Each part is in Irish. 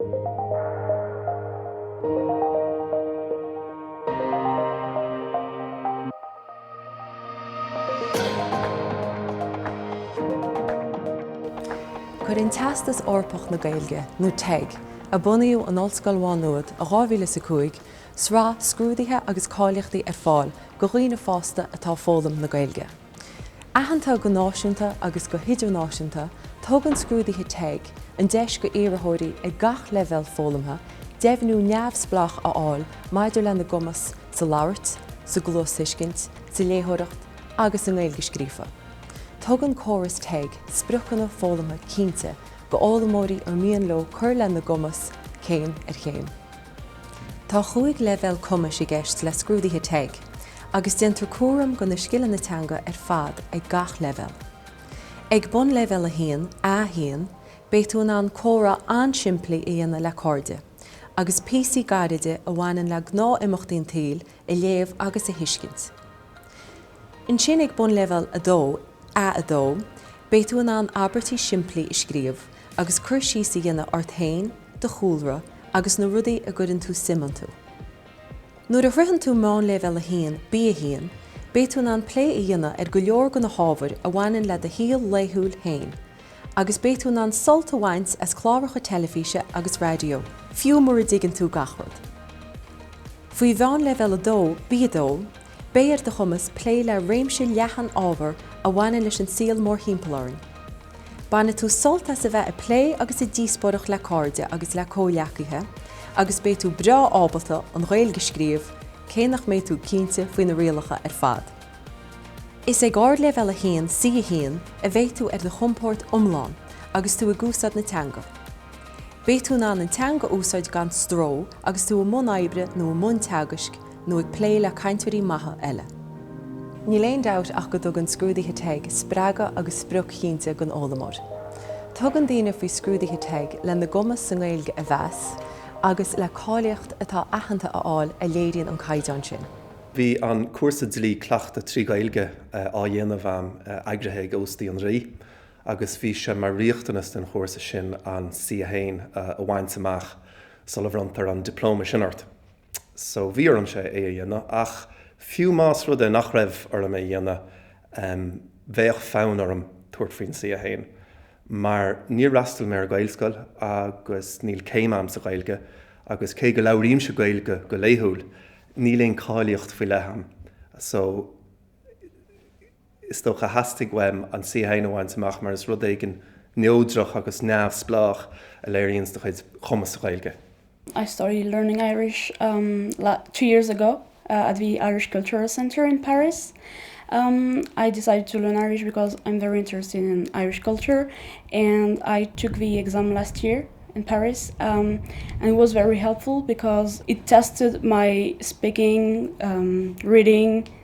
Cuireann Teastas Eorpach na Gaeilge, nó TEG, a bunaíodh in Ollscoil Mhá Nuad i 2005, sraith scrúduithe agus cáilíochtaí ar fáil go dhaoine fásta atá ag foghlaim na Gaeilge. Aitheanta go náisiúnta agus go hidirnáisiúnta, tugann scrúduithe TEG an deis go iarrthóirí ag gach leibhéal foghlamtha deimhniú neamhspleách a fháil maidir lena gcumas sa labhairt, sa gcluasthuiscint, sa léitheoireacht agus sa nGaeilge scríofa. Tugann córas TEG spriocanna foghlamtha cinnte go fhoghlaimeoirí ar mian leo cur lena gcumas céim ar chéim. Tá chúig leibhéal cumais i gceist le scrúduithe TEG agus déantar cúram do na scileanna teanga ar fad ag gach leibhéal. Ag Bonnleibhéal 1, A1, beidh tú in ann comhrá an-simplí a dhéanamh le cairde, agus píosaí gairide a bhaineann le gnáth-imeachtaí an tsaoil a léamh agus a thuiscint. Ansin ag Bonnleibhéal 2, A2, beidh tú in ann abairtí simplí a scríobh agus cur síos a dhéanamh ort féin, do chúlra agus na rudaí a gcuireann tú suim iontu. Nuair a shroicheann tú Meánleibhéal 1, B1, beidh tú in ann plé a dhéanamh ar go leor de na hábhair a bhaineann le do shaol laethúil féin agus beidh tú in ann sult a bhaint as cláracha teilifíse agus raidió, fiú mura dtuigeann tú gach rud. Faoi Mheánleibhéal 2, B2, Beidh ar do chumas plé le réimse leathan ábhar a bhaineann leis an saol mórthimpeall orainn. Bainfidh tú sult as a bheith ag plé agus ag díospóireacht le cairde agus le comhghleacaithe agus beidh tú breá ábalta an Ghaeilge a scríobh, cé nach mbeidh tú cinnte faoi na rialacha ar fad. Is ag Ardleibhéal 1, C1, a bheidh tú ar do chompord iomlán agus tú ag úsáid na teanga. Beidh tú in ann an teanga a úsáid gan stró agus tú i mbun oibre nó i mbun teagaisc, nó ag plé le cainteoirí maithe eile. Níl aon dabht ach go dtugann scrúduithe TEG spreagadh agus sprioc chinnte don fhoghlaimeoir. Tugann daoine faoi scrúduithe TEG lena gcumas sa nGaeilge a mheas agus le cáilíocht atá aitheanta a fháil a léiríonn an caighdeán sin. Bhí an cúrsa dlí-chleachtadh trí Gaeilge á dhéanamh a'm, eagraithe ag Óstaí an Rí, agus bhí sé mar riachtanas den chúrsa sin an C1 a bhaint amach sula mbronntar an dioplóma sin ort. so bhí orm sé é a dhéanamh ach fiú más rud é nach raibh orm é a dhéanamh bheadh fonn orm tabhairt faoin C a haon mar níor fhreastail mé ar Ghaelscoil agus níl céim a'm sa Ghaeilge agus cé go labhraímse Gaeilge go laethúil níl aon cáilíocht faoi leith a'm so is dócha a theastaigh uaim an C shean a bhaint amach mar is rud éigin neodrach agus neamhspleách a léiríonns do chuid chumas sa Ghaeilge. I started learning Irish um two years ago uh at the Irish Cultural Centre in Paris. Um I decided to learn Irish because I'm very interested in Irish culture and I took the exam last year in Paris um and it was very helpful because it tested my speaking, um reading,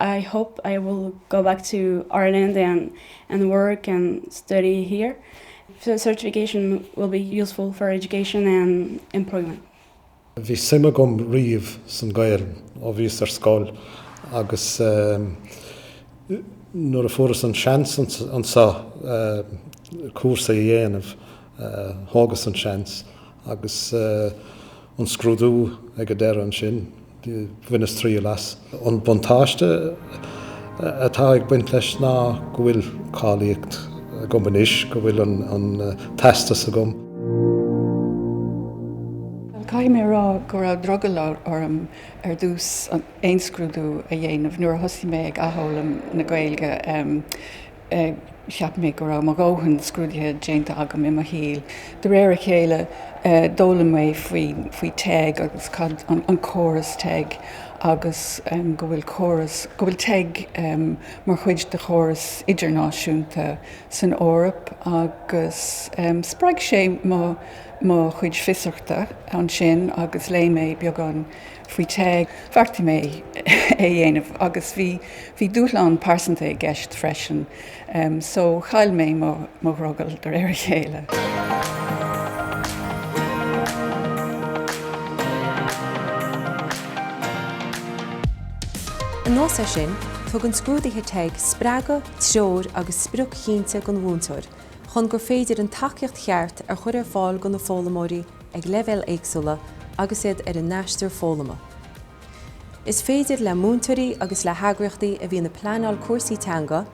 I hope I will go back to Ireland and and work and study here. The certification will be useful for education and employment. Bhí suim agam riamh san Gaelainn ó bhíos ar scoil agus nuair a fuaireas an seans anseo cúrsaí a dhéanamh, Thógas an seans agus an scrúdú ag an deireadh ansin, bhaineas triail as. An buntáiste atá ag baint leis ná go bhfuil cáilíocht agam anois, go bhfuil an teastas agam. Caithfidh mé a rá go raibh drogall orm ar dtús aon scrúdú a dhéanamh nuair a thosaigh mé ag athfhoghlaim na Gaeilge. cheap mé go raibh mo dhóthain scrúdaithe déanta agam i mo shaol. De réir a chéile, d'fhoghlaim mé faoi teg agus cad an córas teg agus go bhfuil córas, go bhfuil teg mar chuid de chóras idirnáisiúnta san Eoraip agus spreag sé mo chuid fiosrachta ansin agus léigh mé beagán, faoi teg. Bheartaigh mé é a dhéanamh agus bhí bhí dúshlán pearsanta i gceist freisin so chaill mé mo mo dhrogall de réir a chéile. Anuas air sin, tugann scrúduithe teg spreagadh, treoir agus sprioc chinnte don mhúinteoir chun gur féidir an tacaíocht cheart a chur ar fáil do na foghlaimeoirí ag leibhéil éagsúla agus iad ar a n-aistear foghlama. Is féidir le múinteoirí agus le heagraíochtaí a bhíonn ag pleanáil cúrsaí teanga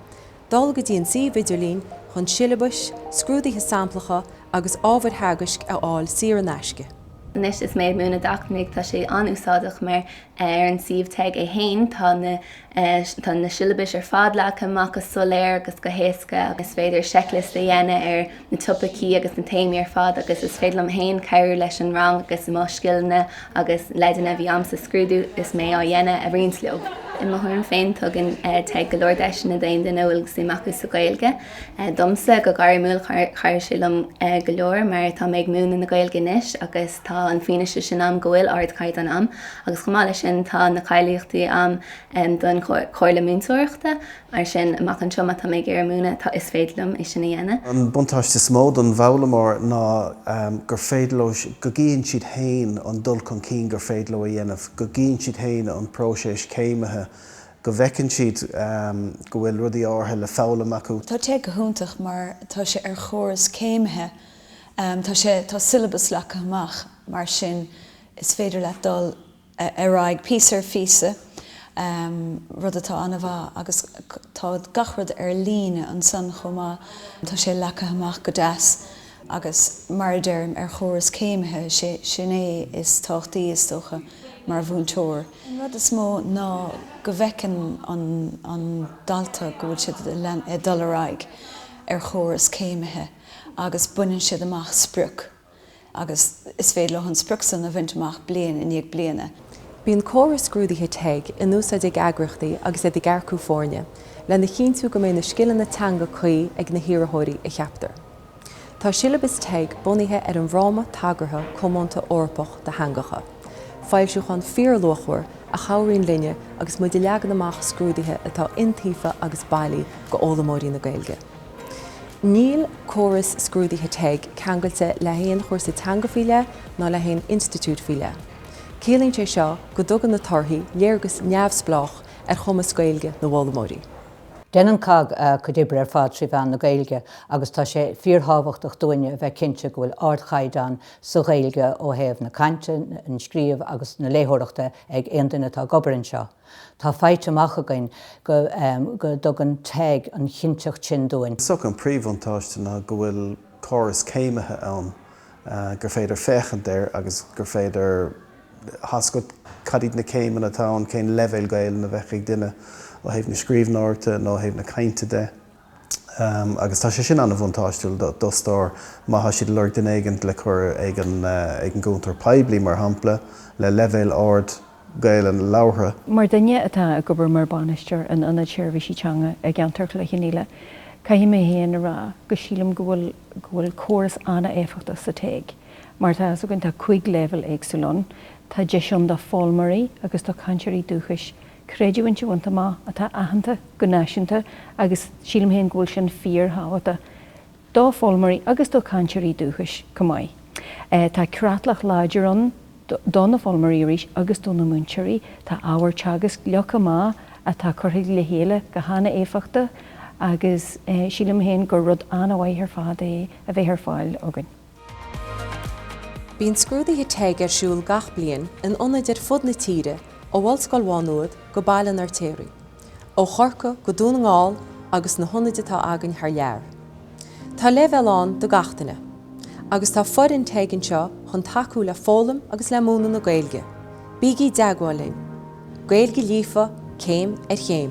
dul go dtí an suíomh idirlín chun siollabais, scrúduithe samplacha agus ábhair theagaisc a fháil saor in aisce. Anois is mé ag múineadh do dhaoine fásta, tá sé an-úsáideach mar ar an suíomh teg é féin tá na. ais. Tá na siollabais ar fad leagtha amach go soiléir agus go héasca agus is féidir seicliosta a dhéanamh ar na topaicí agus na téamaí ar fad agus is féidir liom féin cabhrú leis an rang agus mo scileanna agus leideanna a bhí a'm sa scrúdú is mé á dhéanamh a roinnt leo. I mo thuairim féin, tugann teg go leor deiseanna d'aon duine a bhfuil suim acu sa Ghaeilge. domsa go gairmiúil chabhraigh sé liom go leor mar tá mé ag múineadh na Gaeilge anois agus tá an fianaise sin agam go bhfuil ardchaighdeán a'm agus chomh maith leis sin tá na cáilíochtaí a'm don Chomhairle Múinteoireachta. Mar sin, amach anseo, má tá mé ag iarraidh múineadh, is féidir liom é sin a dhéanamh. An buntáiste is mó don bhfoghlaimeoir ná gur féidir leo, go gcíonn siad féin an dul chun cinn gur féidir leo a dhéanamh, go gcíonn siad féin an próiseas céimithe go bhfeiceann siad go bhfuil rudaí áirithe le foghlaim acu. Tá teg go hiontach mar tá sé ar chóras céimithe, tá sé, tá siollabas leagtha amach mar sin is féidir leat dul ar aghaidh píosa ar phíosa, rud atá an-mhaith agus tá gach rud ar líne ansan chomh maith, tá sé leagtha amach go deas. Agus mar a deirim, ar chóras céimithe, sin é is tábhachtaí, is dócha, mar mhúinteoir. An rud is mó ná go bhfeiceann an dalta go bhfuil siad ag dul ar aghaidh ar chóras céimithe agus baineann siad amach sprioc agus is féidir leo an sprioc san a bhaint amach bliain i ndiaidh bliana. Bíonn córas scrúduithe teg in úsáid ag eagraíochtaí agus iad ag earcú foirne, lena chinntiú go mbeidh na scileanna teanga cuí ag na hiarrthóirí a cheaptar. Tá siollabas teg bunaithe ar an bhFráma Tagartha Comónta Eorpach do Theangacha, foilsiúchán fíorluachmhar a chabhraíonn linne agus muid ag leagan amach scrúduithe atá iontaofa agus bailí d'fhoghlaimeoirí na Gaeilge. Níl córas scrúduithe teg ceangailte le haon chúrsa teanga faoi leith ná le haon institiúid faoi leith. Ciallaíonn sé seo go dtugann na torthaí léargas neamhspleách ar chumas Gaeilge na bhfoghlaimeoirí. Déanann cogg a cuid oibre ar fad trí mheán na Gaeilge agus tá sé fíorthábhachtach dúinne a bheith cinnte go bhfuil ardchaighdeán sa Ghaeilge ó thaobh na cainte, an scríobh agus na léitheoireachta ag aon duine atá ag obair anseo. Tá faighte amach againn go dtugann teg an chinnteacht sin dúinn. Is dócha an príomhbhuntáiste ná go bhfuil córas céimithe ann gur féidir féachaint air agus gur féidir. a fheiscint cad iad na céimeanna atá ann, cén leibhéal Gaelainne a bheadh ag duine ó thaobh na scríbhneoireachta nó ó thaobh na cainte de. Agus tá sé sin an-bhuntáistiúil d'fhostóir má tá siad ag lorg duine éigin le cur ag an gcuntar poiblí, mar shampla, le leibhéal ard Gaelainne labhartha. Mar dhuine atá ag obair mar bhainisteoir in Ionad Seirbhísí Teanga i gceantar Chloich Cheann Fhaola, caithfidh mé féin a rá go sílim go bhfuil córas an-éifeachtach sa teg. Mar atá a fhios againn, tá cúig leibhéal éagsúil ann. Tá deis ann do foghlaimeoirí agus do chainteoirí dúchais creidiúint a bhaint amach atá aitheanta go náisiúnta agus sílim féin go bhfuil sin fíorthábhachtach do foghlaimeoirí agus do chainteoirí dúchais chomh maith. Tá creatlach láidir ann do na foghlaimeoirí arís agus do na múinteoirí. Tá ábhar teagaisc leagtha amach atá curtha le chéile go han-éifeachtach agus sílim féin gur rud an-mhaith ar fad é a bheith ar fáil againn. Bíonn scrúduithe teg ar siúl gach bliain in ionaid ar fud na tíre, ó Ollscoil Mhá Nuad go Baile an Fheirtéaraigh, ó Chorcaigh go Dún na nGall agus na hionaid atá againn thar lear. Tá leibhéal ann do gach duine, agus tá foireann teg anseo chun tacú le foghlaim agus le múineadh na Gaeilge. Bígí i dteagmháil linn! Gaeilge líofa céim ar chéim.